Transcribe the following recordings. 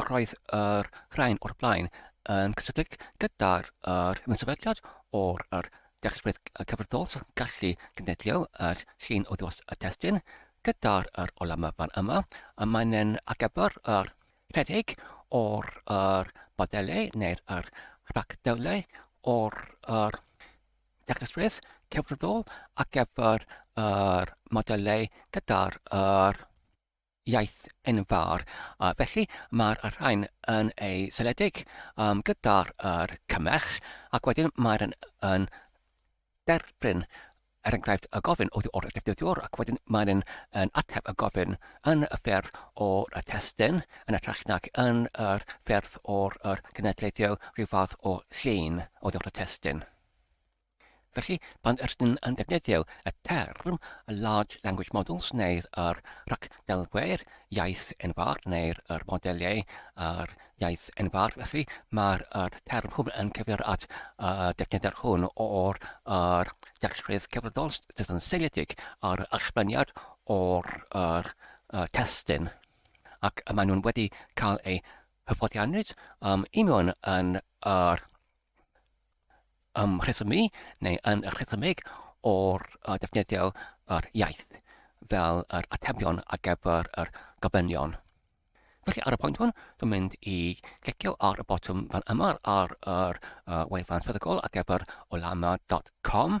Yr oedd yr rhain o'r blaen yn cysylltiedig gyda'r yr ymsefydliad o'r yr dealltwriaeth cyfrddol sy'n gallu cynllunio yr llun o ddiwedd y testun gyda'r yr olam fan yma a mae'n yn agebu'r yr rhedeg o'r yr modelau neu'r yr rhagdewlau o'r yr dealltwriaeth cyfrddol ar gyfer yr modelau gyda'r yr iaith enfawr, a felly mae'r rhain yn ei seledig um, gyda'r er cymell, ac wedyn mae'r yn, yn derbyn er enghraifft y gofyn oddi wrth y defnyddiwr, ac wedyn mae'n yn, yn ateb y gofyn yn y ffyrdd o'r y testun, yn y trach nac yn yr ffyrdd o'r yr genedlaethau rhyw fath o llun oddi wrth y testun. Felly, pan ydyn yn defnyddio y term large language models neu'r yr ragdelgwyr iaith enfawr neu'r yr modeliau ar iaith enfawr, felly mae'r yr term hwn yn cyfeirio at y defnyddiad hwn o'r yr dealltwriaeth cyfredol sydd yn seiliedig ar allfyniad o'r yr y testun ac y maen nhw'n wedi cael eu hyfforddianwyd um, i mewn yn yr ymrhesymu neu yn rhesymeg o'r defnyddio yr iaith fel yr atebion ar gyfer yr gofynion. Felly ar y pwynt hwn, dwi'n mynd i glicio ar y botwm fan yma ar yr uh, wefan swyddogol ar gyfer olama.com.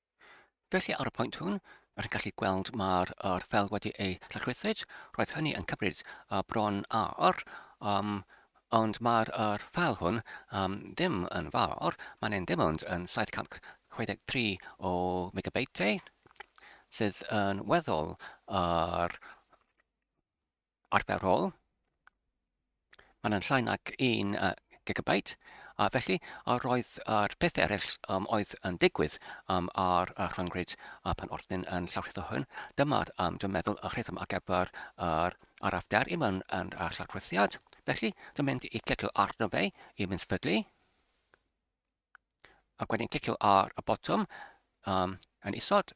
Felly ar y pwynt hwn, rwy'n gallu gweld mae'r er fel wedi ei llachrythyd. Roedd hynny yn cymryd uh, bron ar, um, ond mae'r er fel hwn um, ddim yn fawr. Mae'n ein dim ond yn 763 o megabeitiau, sydd yn weddol ar arferol. Mae'n yn llai nag un uh, gigabyte. A felly, a roedd yr peth eraill um, oedd yn digwydd um, ar y rhyngwyd a pan oedd ni'n yn llawrlletho hwn, dyma'r, um, dwi'n meddwl, y rhythm ar gyfer yr arafder i mewn yn y llawrllethiad. Felly, dwi'n mynd i clicio arno fe i mynd sbydlu. A wedyn clicio ar y botwm um, yn isod.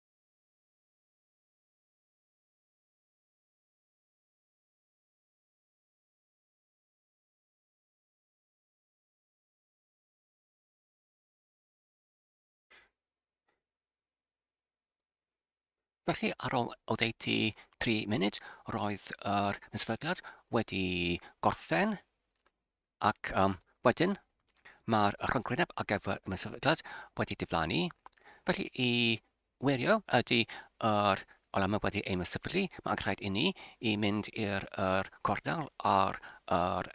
Felly, ar ôl oddeutu 3 munud, roedd yr mesfyddiad wedi gorffen. Ac um, wedyn, mae'r rhyngryneb ar gyfer y sefydliad wedi diflannu. Felly i wirio ydy yr olamau wedi ein sefydlu, mae angen rhaid i ni i mynd i'r er cornel ar yr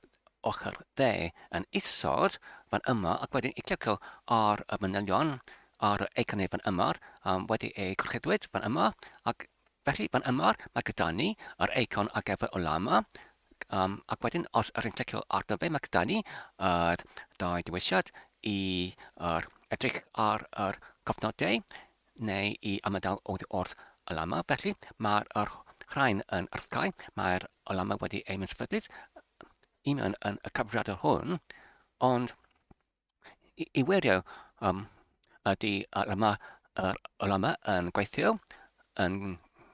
ochr dde yn isod fan yma ac wedyn i clicio ar y manylion ar y eiconau fan yma um, wedi eu gorchudwyd fan yma ac Felly fan yma mae gyda ni yr eicon ar gyfer Ulama um, ac wedyn os yr yn clicio arno fe mae gyda ni yr dau dewisiad i yr edrych ar yr cofnodau neu i ymadael oedd wrth Ulama. Felly mae'r yr rhain yn arthau, mae'r Ulama wedi ei mysfydydd i mewn yn y cyfriadol hwn, ond i, i wirio um, ydy yr yma, yr, yr yma yn gweithio yn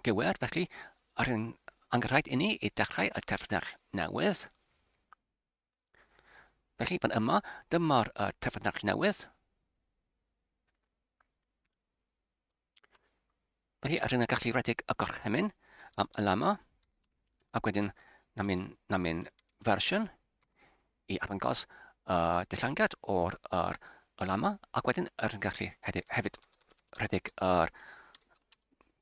gywir, felly ar yn angerhaid i ni i dechrau y terfynach newydd. Felly fan yma, dyma'r uh, terfynach newydd. Felly, ar hyn y gallu redig y gorchymyn am y lama, ac wedyn na mynd, na mynd fersiwn i arddangos y uh, dillangiad o'r yr y lama, ac wedyn yr yn gallu hefyd rhedeg yr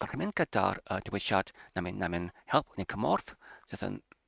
gorchymyn gyda'r uh, diwysiad na mynd, na mynd help neu cymorth sydd yn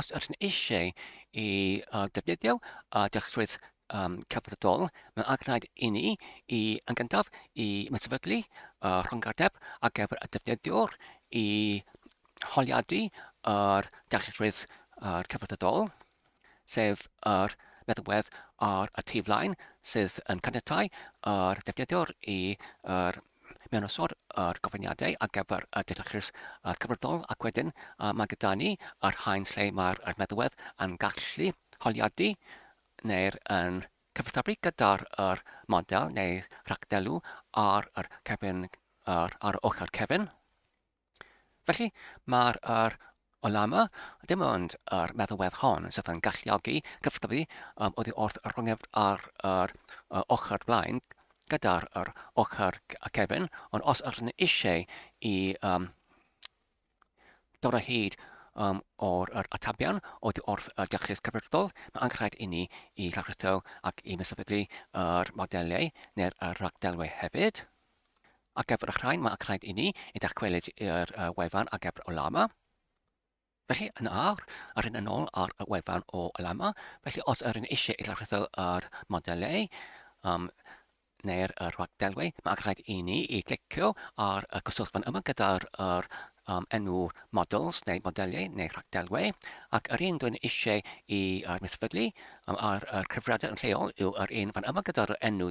Os ydych yn eisiau i uh, defnyddio uh, dyletswydd um, cyfredol, mae'n angenrhaid i ni i yn gyntaf i ymsefydlu uh, rhongarddeb ar gyfer y defnyddiwr i holiadu yr dyletswydd uh, cyfredol. sef yr meddalwedd ar y tu flaen sydd yn caniatáu i'r defnyddiwr i yr mewnwysod yr gofyniadau ar gyfer y dealltwriaeth uh, cyfredol ac wedyn uh, mae gyda ni yr haen lle mae'r meddalwedd yn gallu holiadu neu'r yn cyfathrebu gyda'r yr model neu rhagdelw ar yr cefn ar, ar ochr cefn Felly, mae'r yr olamau, dim ond yr meddalwedd hon, sydd yn galluogi cyflymu um, oddi wrth y rhongedd ar yr uh, ochr blaen gyda'r yr ochr cefn, ond os ydyn ni eisiau i um, dod o hyd um, o'r yr atabion o di wrth y diolchus cyfredol, mae angen rhaid i ni i lawrlletho ac i mesodyddu yr modelau neu'r rhagdelwau hefyd. Algebr Rhain, mae rhaid i ni i dachwelyd i'r wefan Algebr o Lama. Felly, yn awr, yr hyn yn ôl ar y wefan o Lama. Felly, os yr yn eisiau i lawrytho yr modelau um, neu'r rhagdelwau, mae rhaid i ni i glicio ar y cyswllt fan yma gyda'r er, um, enw models neu modelau neu rhagdelwau. Ac yr un dwi'n eisiau i uh, misfydlu um, ar y cyfriadau yn lleol yw'r un fan yma gyda'r enw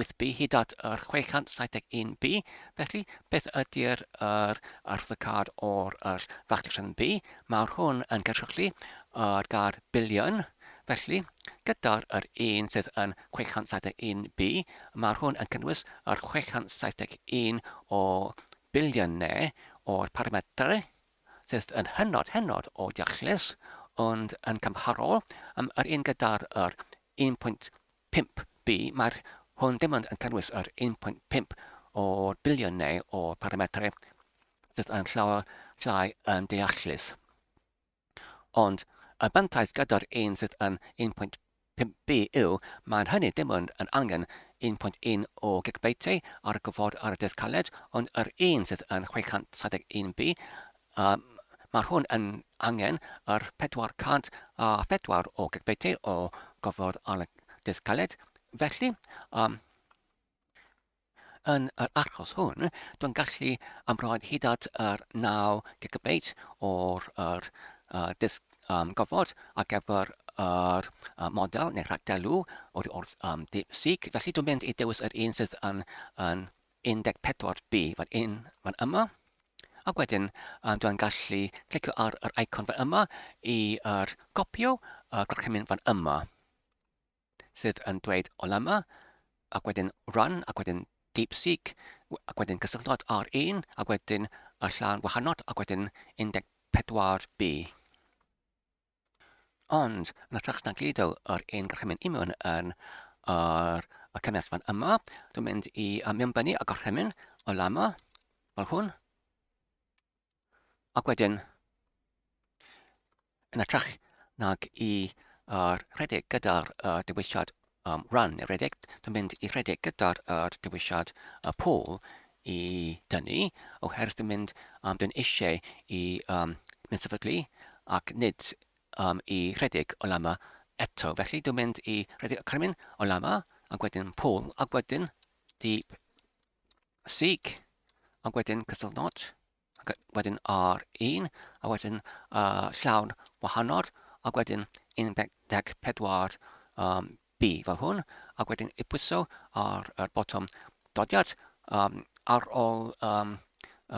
8B hyd at yr 671B, felly beth ydy'r yr arwyddocâd o'r yr factasiwn B? Mae'r hwn yn cynrychlu yr gâd biliwn, felly gyda'r yr un sydd yn 671B, mae'r hwn yn cynnwys yr 671 o biliynau o'r parametrau sydd yn hynod hynod o deallus, ond yn cymharol, um, yr un gyda'r yr 1.1 Pump, Bi, Mae hwn dim ond yn cynnwys yr 1.5 o'r biliwn neu o'r parametrau sydd yn llawer llai yn deallus. Ond y mantais gyda'r un sydd yn 1.5 bi yw mae'n hynny dim ond yn angen 1.1 o gigbeitiau ar y gofod ar y dysg caled, ond yr un sydd yn 631 bi A mae'r hwn yn angen yr 404 o gigbeitau o gofod ar y disg caled. Felly, um, yn yr achos hwn, dwi'n gallu ymroed hyd at yr 9 gigabeit o'r er, uh, disg um, gofod ar gyfer yr uh, model neu rhagdelw o'r wrth um, seek. Felly dwi'n mynd i dewis yr un sydd yn, yn 14 B fan yn, fan yma. Ac wedyn um, dwi'n gallu clicio ar yr icon fan yma i er, gopio y gorchymyn fan yma sydd yn dweud Olema ac wedyn Run ac wedyn DeepSeek ac wedyn cysylltwad ar un ac wedyn y llawn wahanol ac wedyn 14B. Ond, yn hytrach na gludo ar ein gorchymyn imiwn yn ar y cynnes fan yma, dwi'n mynd i mewnbynnu y gorchymyn o lama, fel hwn. Ac wedyn, yn hytrach nag i ar rhedeg gyda'r uh, dewisiad am ran y rhedeg, dwi'n mynd i rhedeg gyda'r yr dewisiad y pôl i dynnu, oherwydd dwi'n mynd, um, dwi'n eisiau i um, mynd sefydlu ac nid um, i rhedeg o lama eto. Felly dwi'n mynd i rhedeg y carmyn o lama, ac wedyn pôl, ac wedyn deep seek, ac wedyn cysylltnod. ac wedyn ar 1, a wedyn uh, llawn wahanol, a wedyn 14 um, B fel hwn, a wedyn i pwyso ar y botwm dodiad um, ar ôl um,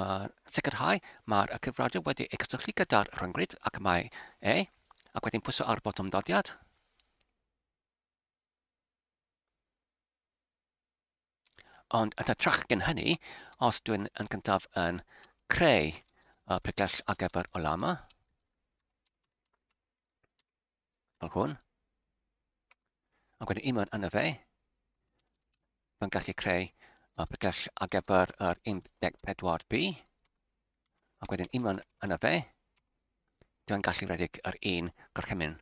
uh, sicrhau mae'r cyfrifiadur wedi ei cysylltu gyda'r rhyngrwyd ac mae e, ac wedyn pwyso ar y botwm dodiad. Ond at y trach gen hynny, os dwi'n yn cyntaf yn creu y pregell ar gyfer o lama, fel hwn, ac wedyn un mewn yna fe, Mae'n gallu creu y pregell ar gyfer yr 14B. Ac wedyn unwaith yna fe, dwi'n gallu redeg yr un gorchymyn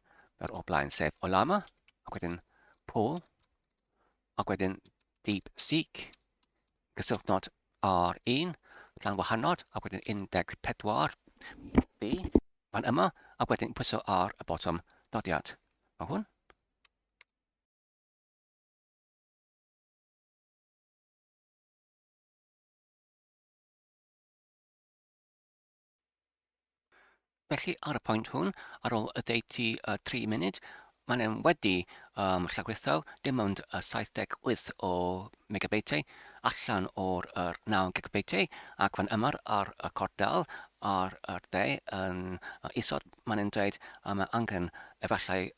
yr o blaen, sef Olama, ac wedyn Paul, ac wedyn Deep Seek, gysylltnod ar un, llan wahanol, ac wedyn 14 B, fan yma, ac wedyn pwyso ar y botwm dodiad. Mae hwn. Felly, ar y pwynt hwn, ar ôl y deiti uh, 3 munud, mae'n e'n wedi um, llagwethau dim ond uh, 78 o megabeitiau allan o'r er 9 gigabeitiau ac fan yma'r ar y cordal ar y de yn uh, isod mae'n e'n dweud uh, mae angen efallai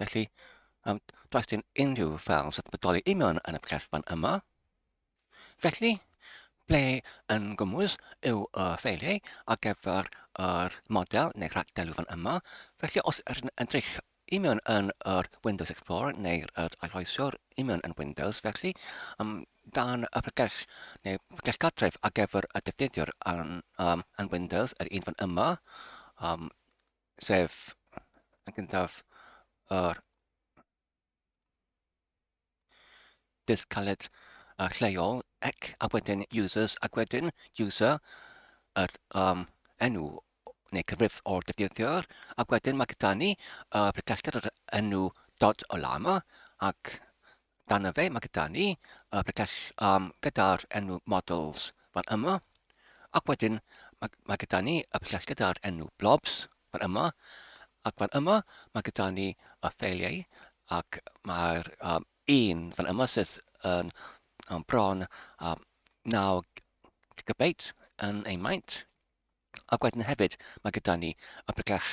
Felly, um, does dim unrhyw fel sy'n bodoli union yn y cellfan yma. Felly, ble yn gwmwys yw y ffeiliau ar gyfer yr model neu rhagdelu fan yma. Felly, os ydyn yn edrych union yn yr Windows Explorer neu'r arhoesiwr union yn Windows, felly um, dan y pregell neu pregell gartref ar gyfer y defnyddiwr yn, um, yn Windows, yr un fan yma, um, sef yn gyntaf yr dydd caled uh, lleol ac a wedyn users ac wedyn user yr um, enw neu cyfrif o'r defnyddiwr ac wedyn mae gyda ni uh, pregallter yr enw dod o lama ac Dan y fe mae gyda ni y bregell um, gyda'r enw models fan yma. Ac wedyn mae, mae gyda ni y bregell gyda'r enw blobs fan yma. Ac fan yma mae gyda ni y ffeiliau ac mae'r um, un fan yma sydd yn um, bron um, 9 gigabeit yn ei maint. Ac wedyn hefyd, mae gyda ni y pregell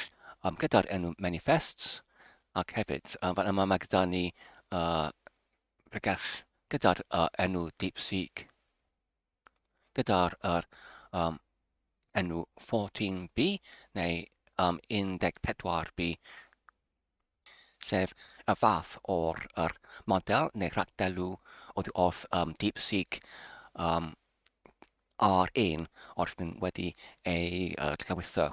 um, gyda'r enw manifests, ac hefyd, um, fan yma mae gyda ni uh, pregell gyda'r uh, enw DeepSeek, gyda'r er, um, enw 14B neu um, 14B sef y fath o'r yr model neu rhagdelw oddi wrth um, DeepSeek um, ar un o'r hyn wedi ei uh, llawitho.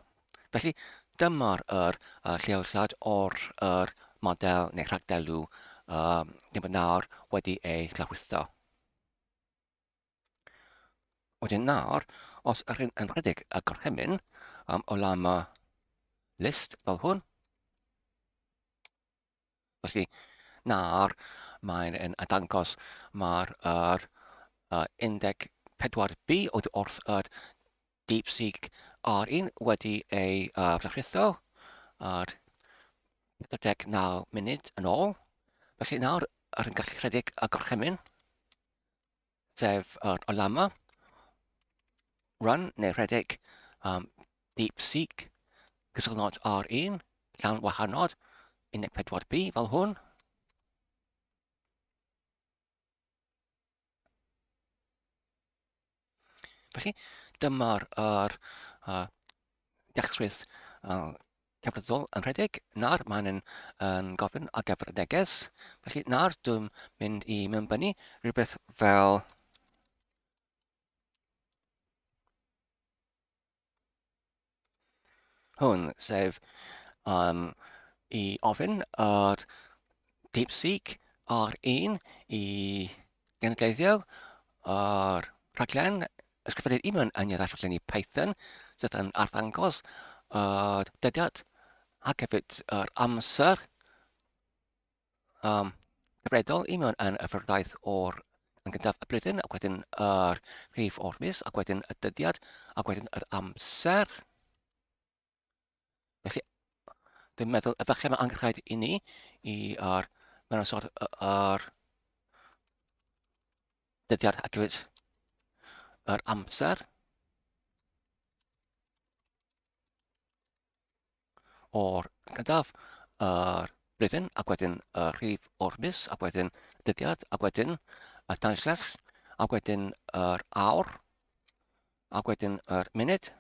Felly, dyma'r yr, uh, lleoliad o'r yr model neu rhagdelw um, neu bod nawr wedi ei llawitho. Wedyn nawr, os yr hyn yn rhedeg y gorchymyn am olama list fel hwn, felly nawr mae'n yn dangos mae'r er, uh, indeg 4B oedd wrth yr DeepSeek R1 wedi ei uh, fflachritho ar 49 munud yn ôl. Felly nawr, yr yn gallu rhedeg y gorchymyn sef uh, Olama, Run neu rhedeg, um, Deep Seek, cysylltnod R1, llawn wahanol, 14B fel hwn. Felly, dyma'r er, uh, dechrwydd uh, Cerddorol yn rhedeg, na'r maen yn yn gofyn ar gyfer y neges, felly na'r dwi'n mynd i mewnbynnu rhywbeth fel hwn, sef um, i ofyn ar DeepSeek ar un i Gan gleidio o'r rhaglen, ysgrifennu'r un o'n aniad ar rhaglenni Python sydd yn arddangos yr dyddiad ac hefyd yr amser um, cyfredol i mewn yn y ffyrdaeth o'r yn gyntaf y blwyddyn ac wedyn yr rhif o'r mis ac wedyn y dyddiad ac wedyn yr amser. Felly, dwi'n meddwl, efallai mae angenrhaid i ni i ar mewn y sort ar dyddiad ac hefyd yr amser o'r gyntaf yr blwyddyn ac wedyn y rhif o'r mis ac wedyn dyddiad ac wedyn y dansell ac wedyn yr awr Ac wedyn yr munud.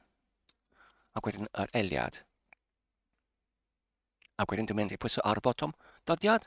Ac wedyn yr eliad. Ac wedyn dwi'n mynd i pwyso ar y botwm dyddiad.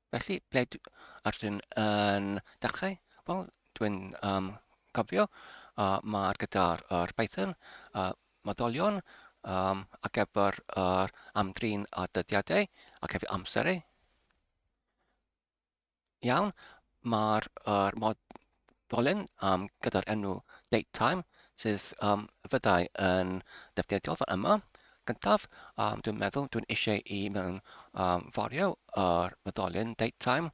Felly, ble dw- a rydyn yn dechrau? Wel, dwi'n um, cofio uh, mae'r gyda'r yr Python uh, maddolion um, ar gyfer yr amdrin a dyddiadau ac hefyd amserau. Iawn, mae'r er, mod, ddolen um, gyda'r enw date time, sydd um, fyddai yn defnyddiol fan yma. Gyntaf, um, dwi'n meddwl dwi'n eisiau i mewn um, forio yr myddolyn date time.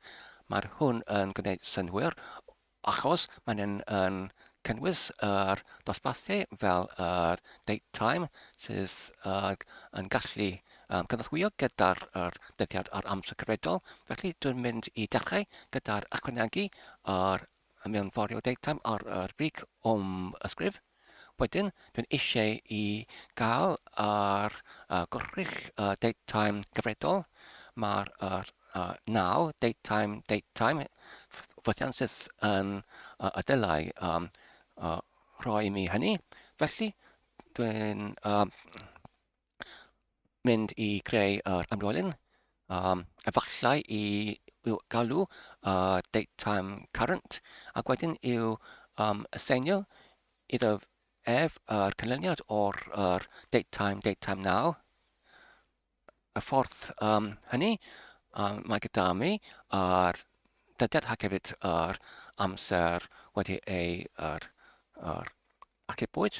Mae'r hwn yn gwneud synhwyr achos mae'n yn, yn cynnwys yr dosbarthu fel yr date time sydd uh, yn gallu um, cyfathwyo gyda'r er, dyddiad a'r amser cyfredol. Felly dwi'n mynd i dechrau gyda'r ychwanegu a'r mewnforio deutam ar yr brig o'm ysgrif. Wedyn, dwi'n eisiau i gael ar uh, gorrych uh, deutam gyfredol. Mae'r er, uh, naw deutam, deutam fythian sydd yn uh, y dylai um, uh, rhoi mi hynny. Felly, dwi'n uh, mynd i greu yr amrolyn, um, efallai i i'w galw uh, date time current, ac wedyn i'w um, aseinio iddo ef yr canlyniad o'r er, date time, date time now. Y ffordd um, hynny, um, mae gyda mi yr dyddiad ac hefyd yr amser wedi ei er, er, achubwyd.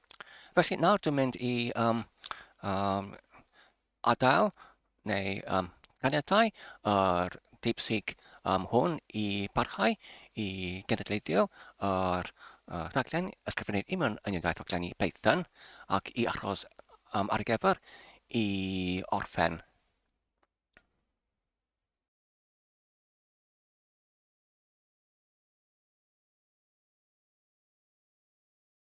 Felly nawr dwi'n mynd i um, um, adael neu um, caniatau yr deipsig um, hwn i barhau i genedlaethio yr uh, rhaglen ysgrifennu i mewn yn iaith oglenni Python ac i achos um, ar gyfer i orffen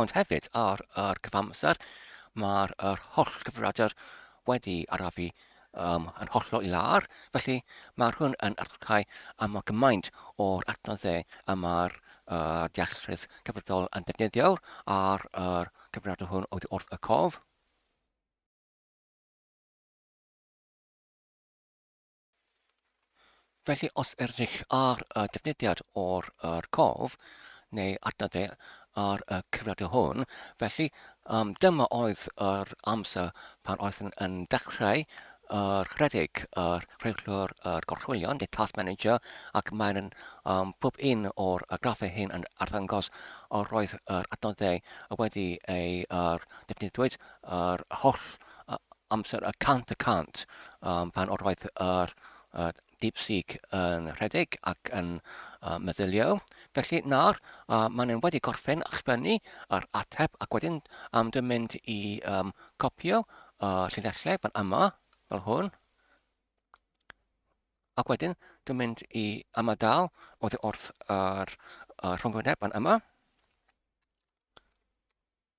Ond hefyd, ar yr cyfamser, mae'r yr holl gyfrifiadur wedi arafu um, yn hollol lar, felly mae'r hwn yn archau am y gymaint o'r adnoddau y mae'r uh, dealltrydd cyfredol yn defnyddio ar yr cyfrifiadur hwn oedd wrth y cof. Felly os ydych ar y defnyddiad o'r yr cof neu adnodde ar y cyfrifiadur hwn, felly um, dyma oedd yr amser pan oeddwn yn dechrau yr rhedeg yr rheglwr yr gorchwylion, the task manager, ac mae'n um, pob un o'r y graffau hyn yn arddangos yr oedd yr adnoddau wedi ei yr defnyddiwyd yr holl amser y cant y cant um, pan oedd yr uh, DeepSeek yn rhedeg ac yn uh, meddylio. Felly nawr, uh, maen nhw'n wedi gorffen a sgwennu yr ateb ac wedyn um, dwi'n mynd i um, copio uh, llinellau fan yma, fel hwn. Ac wedyn, dwi'n mynd i ymadal oedd wrth yr uh, rhwngwyneb fan yma.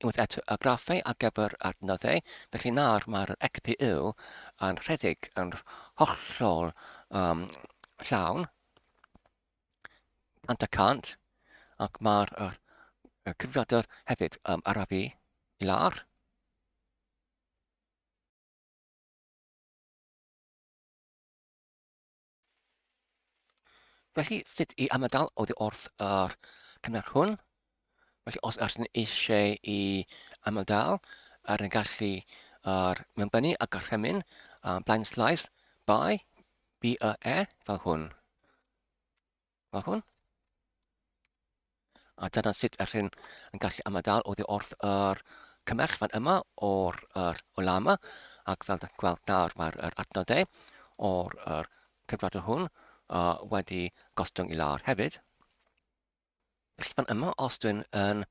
Unwaith eto, y graffau ar gyfer adnoddau, felly nawr mae'r XPU yn rhedeg yn hollol um, llawn, 100 y cant, ac mae'r y cyfrifiadur hefyd um, arafu i lawr. Felly, sut i ymadael oddi wrth yr cynnar hwn? Felly, os ydych chi'n eisiau i ymadael ar y gallu ar mewnbynnu a gorchymyn um, blind slice by BEE fel hwn. Fel hwn. A dyna sut yr hyn yn gallu ymadael oddi wrth yr cymell fan yma o'r yr ola yma. Ac fel da chi'n gweld nawr mae'r yr adnodau o'r yr cyfrod o hwn uh, wedi gostwng i lawr hefyd. Felly fan yma, os dwi'n yn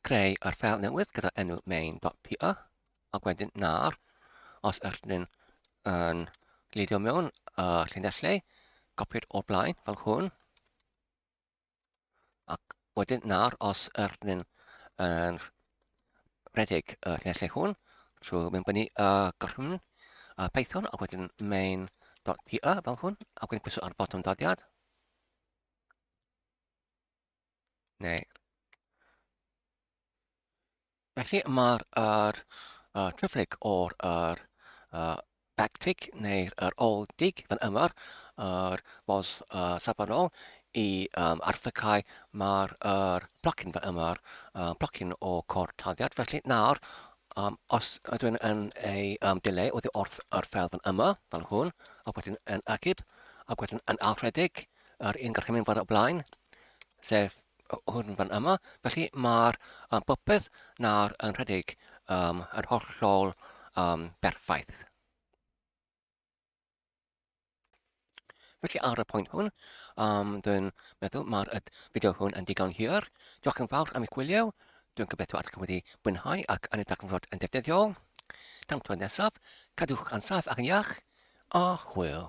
creu ar ffeil newydd gyda enw main.py ac wedyn nar os ydyn yn gleidio mewn y llinellau copied o'r blaen fel hwn ac wedyn nar os ydyn yn rhedeg y llinellau hwn trwy mynd fyny y gorchymyn y Python ac wedyn main.py fel hwn ac wedyn pwyso ar botwm dodiad Neu... Felly mae'r er, uh, triplyg o'r er, uh, backtick neu'r er old dig fan yma, yr modd uh, safonol i um, arthacau mae'r er blocyn fan yma, uh, blocyn o cor taddiad. Felly nawr, um, os ydw i'n yn ei um, dileu oddi wrth yr fel fan yma, fel hwn, ac wedyn yn agib, ac wedyn yn alredig, Yr un gorchymyn fan o blaen, sef hwn fan yma. Felly mae'r um, popeth nawr yn rhedeg um, yn hollol um, berffaith. Felly ar y pwynt hwn, um, dwi'n meddwl mae'r fideo hwn yn digon hir. Diolch yn fawr am eich gwylio. Dwi'n gobeithio at chi wedi mwynhau ac yn edrych yn fod yn defnyddiol. Tan tro nesaf, cadwch yn saff ac yn iach, a hwyl.